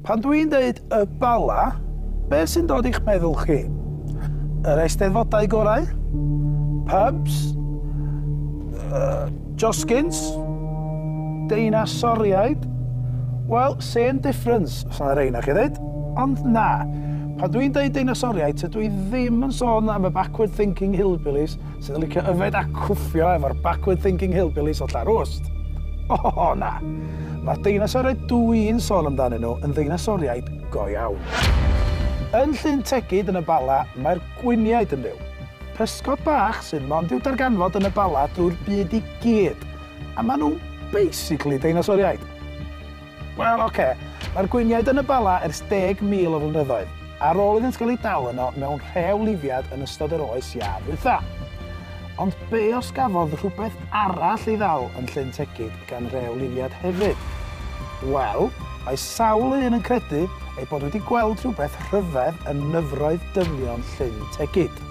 Pan dwi'n dweud y Bala, beth sy'n dod i'ch meddwl chi? Yr eisteddfodau gorau? Pubs? Uh, josgins? Deinasoriaid? Wel, same difference, os yna rhain chi ddweud. Ond na, pan dwi'n dweud deinasoriaid, tydw i ddim yn sôn am y backward thinking hillbillies sydd yn licio yfed a cwffio efo'r backward thinking hillbillies o Llarwst. O, oh, oh, na. Mae'r deinasoriaid dw i'n sôn amdanyn nhw yn ddeinasoriaid go iawn. Yn Llyn Tegid yn y Bala, mae'r gwiniaid yn byw. Pysgod bach sy'n mond i'w darganfod yn y Bala drwy'r byd i gyd. A maen nhw basically deinasoriaid. Wel, ocê, mae'r gwyniaid yn y Bala ers deg mil o flynyddoedd, ar ôl iddynt gael eu dal yno mewn rhew lifiad yn ystod yr oes iâ ddwytha. Ond be os gafodd rhywbeth arall ei ddal yn Llyn Tegid gan rew lifiad hefyd? Wel, mae sawl un yn credu eu bod wedi gweld rhywbeth rhyfedd yn nyfroedd dynion Llyn Tegid.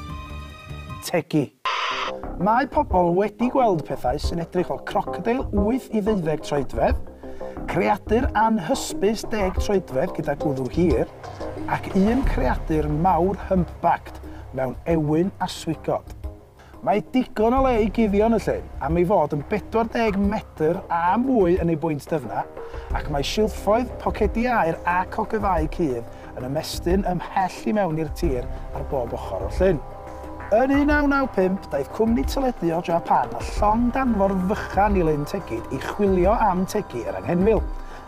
Tegi. Mae pobl wedi gweld pethau sy'n edrych fel crocodeil 8 i ddeuddeg troedfedd, creadur anhysbys deg troedfedd gyda gwddw hir, ac un creadur mawr humpbacked mewn ewyn a swigod. Mae digon o le i guddio yn y llyn am ei fod yn 40 medr a mwy yn ei bwynt dyfna, ac mae silffoedd, pocedi aer ac ogofâu cudd yn ymestyn ymhell i mewn i'r tir ar bob ochr o'r llyn. Yn 1995, daeth cwmni teledu o Japan â llong danfor fychan i Lyn Tegid i chwilio am tegi yr anghenfil,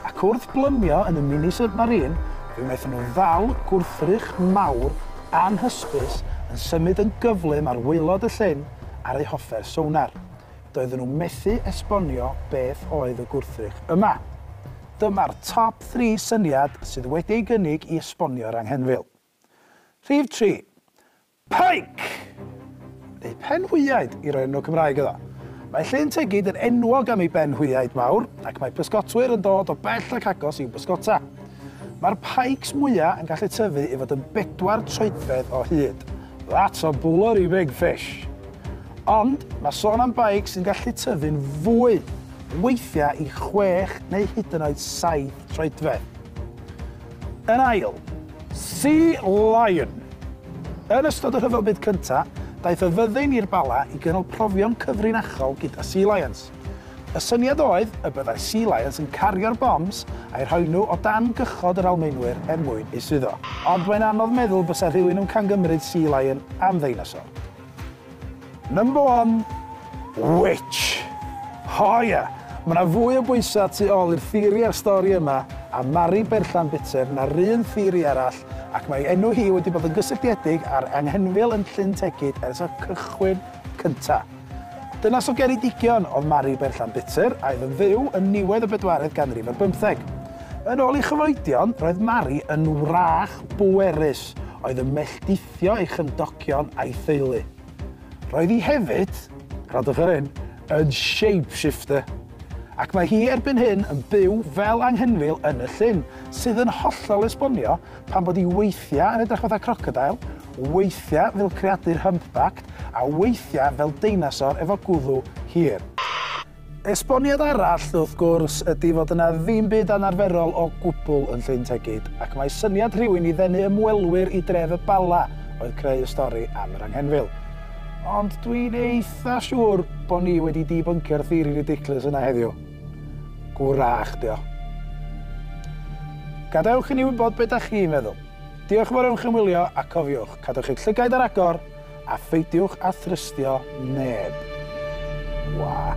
ac wrth blymio yn y Mini Submarine, fe wnaethon nhw ddal gwrthrych mawr anhysbys yn symud yn gyflym ar waelod y llyn ar eu hoffer sonar. doedden nhw methu esbonio beth oedd y gwrthrych yma. Dyma'r top thri syniad sydd wedi ei gynnig i esbonio'r anghenfil. Rhif tri. Pike! Neu penhwyaid, i roi enw Cymraeg iddo. Mae Llyn Tegid yn enwog am ei benhwyaid mawr, ac mae pysgotwyr yn dod o bell ac agos i'w bysgota. Mae'r pikes mwyaf yn gallu tyfu i fod yn bedwar troedfedd o hyd. That's a bullery big fish! Ond mae sôn am beic sy'n gallu tyfu'n fwy, weithiau i chwech neu hyd yn oed saith troedfedd. Yn ail, Sea Lion! Yn ystod y Rhyfel Byd Cyntaf, daeth y fyddin i'r Bala i gynnal profion cyfrinachol gyda Sea Lions. Y syniad oedd y byddai Sea Lions yn cario'r bombs a'u rhoi nhw o dan gychod yr Almaenwyr er mwyn eu suddo. Ond mae'n anodd meddwl bysa rhywun yn camgymryd Sea Lion am ddeinosor. Number one, witch! O ia! Mae 'na fwy o bwysau tu ôl i'r theori a'r stori yma am Mari Berllan Butter na'r un theori arall ac mae ei enw hi wedi bod yn gysylltiedig â'r anghenfil yn Llyn Tegid ers y cychwyn cynta'. Dynas o Geredigion oedd Mari Berllan Butter a oedd yn fyw yn niwedd y bedwaredd ganrif ar bymtheg. Yn ôl ei chyfoedion, roedd Mari yn wrach bwerus oedd yn melltithu gostio ei chymdogion a'i theulu. Roedd hi hefyd, gwrandwch ar hyn, yn shapeshifter, ac mae hi erbyn hyn yn byw fel anghenfil yn y llyn, sydd yn hollol esbonio pam bod hi weithiau yn edrych fatha crocodeil, weithiau fel creadur humpbacked a weithiau fel deinosor efo gwddw hir. Esboniad arall, wrth gwrs, ydy fod yna ddim byd anarferol o gwbl yn Llyn Tegid, ac mae syniad rhywun i ddenu ymwelwyr i dref y Bala oedd creu y stori am yr anghenfil. Ond dwi'n eitha siŵr bod ni wedi dibyncio'r theori ridiculous yna heddiw. Gwrach, dio. Gadewch i ni wybod beth da chi'n meddwl. Diolch am yr ymchymwylio, a cofiwch, cadwch eich llygaid ar agor, A pheidiwch â thrystio neb. Wha.